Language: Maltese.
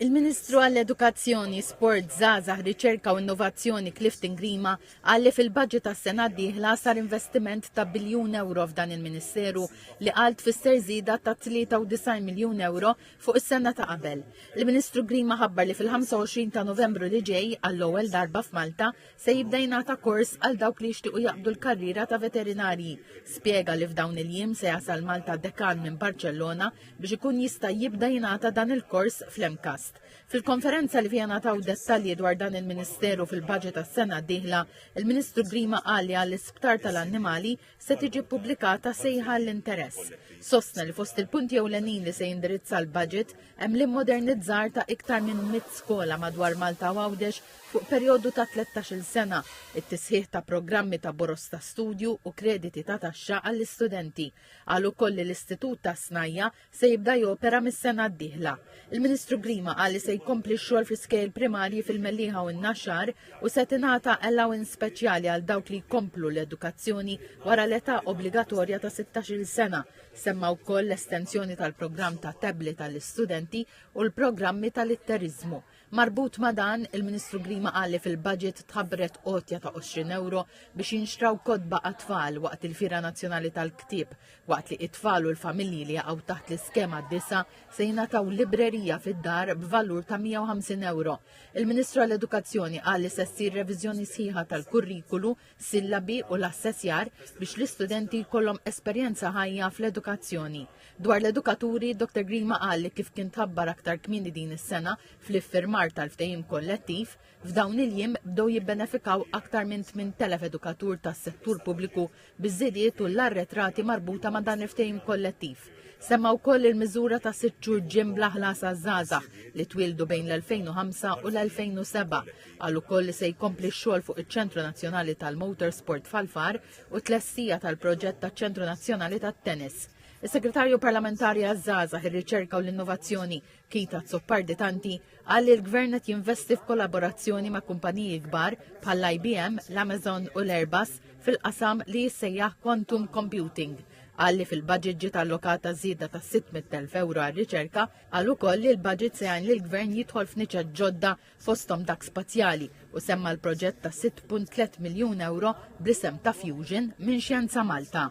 Il-Ministru għall-Edukazzjoni, Sport, Żgħażagħ, Riċerka u Innovazzjoni Clifton Grima qal li fil-budget tas-sena d-dieħla sar investiment ta' biljun ewro f'dan il-Ministeru li qal tfisser żieda ta' 93 miljun ewro fuq is-sena ta' qabel. Il-Ministru Grima ħabbar li fil-25 ta' Novembru li ġej, għall-ewwel darba f'Malta, se jibda jingħata kors għal dawk li jixtiequ jaqbdu l-karriera ta' veterinarji. Spjega li f'dawn il-jiem se jasal Malta dekan minn Barċellona biex ikun jista' jibda jingħata dan il-kors fl-MCAST. Fil-konferenza li fiha nataw dettalji dwar dan il-Ministeru fil-budget tas-sena d-dieħla, il-Ministru Grima qal li għall-Isptar tal-Annimali se tiġi ppubblikata sejħa għall-interess. Sostna li fost il-punti ewlenin li se jindirizza l-budget hemm l-immodernizzar ta' iktar minn mit skola madwar Malta u Għawdex fuq perjodu ta' 13-il sena, it-tisħiħ ta' programmi ta' boros ta' studju u krediti ta' taxxa għall-istudenti. Qal ukoll li l-Istitut tas-Snajja' se jibda jopera mis-sena d-dieħla. Il-Ministru Grima qal li se jkompli x-xogħol fl-iskejjel primarji fil-Mellieħa u n-Naxxar u se tingħata allowance speċjali għal dawk li jkomplu l-edukazzjoni wara l-età obbligatorja ta' 16-il sena. Semma wkoll l-estensjoni tal-programm ta' tablet għall-istudenti u l-programmi tal-litteriżmu. Marbut ma' dan, il-Ministru Grima qal li fil-budget tħabbret għotja ta' 20 ewro biex jinxtraw kotba għat-tfal waqt il-Fiera Nazzjonali tal-Ktieb, waqt li t-tfal u l-familji li jaqgħu taħt l-iskema disa' se jingħataw librerija fid-dar b'valur ta' 150 ewro. Il-Ministru għall-Edukazzjoni qal li se ssir reviżjoni sħiħa tal-kurrikulu sillabi u l-assessjar biex l-istudenti jkollhom esperjenza ħajja fl-edukazzjoni. Dwar l-edukaturi, Dr. Grima qal li kif kien tabbar aktar kmini din is-sena fl-iffirmar tal-ftehim kollettiv, f'dawn il-jiem bdew jibbenefikaw aktar minn 8,000 edukatur tas-settur pubbliku biż-żidiet u l-arretrati marbuta ma' dan il-ftehim kollettiv. Semma wkoll il-miżura ta' sitt xhur ġim bla ħlas għaż-żgħażagħ li twildu bejn l-2005 u l-2007 Qal ukoll li se jkompli x-xogħol fuq iċ-Ċentru Nazzjonali tal-Motorsport f'Ħal-Far u t-tlestija tal-proġett taċ-Ċentru Nazzjonali tat-Tennis. Is-Segretarju Parlamentari għaż-Żgħażagħ, ir-Riċerka u l-Innovazzjoni, Keith Azzopardi Tanti, qal li l-Gvern qed jinvesti f'kollaborazzjoni ma' kumpaniji kbar bħall-IBM, l-Amazon u l-Airbus fil-qasam li jissejjaħ quantum computing. Qal li fil-budget ġiet allokata żieda ta' 600,000 euro għar-riċerka, qal ukoll li l-budget se jgħin lill-Gvern jidħol f'niċa ġodda fosthom dak spazjali, u semma l-proġett ta' 6.3 miljun ewro bl-isem ta' Fusion minn Xjenza Malta.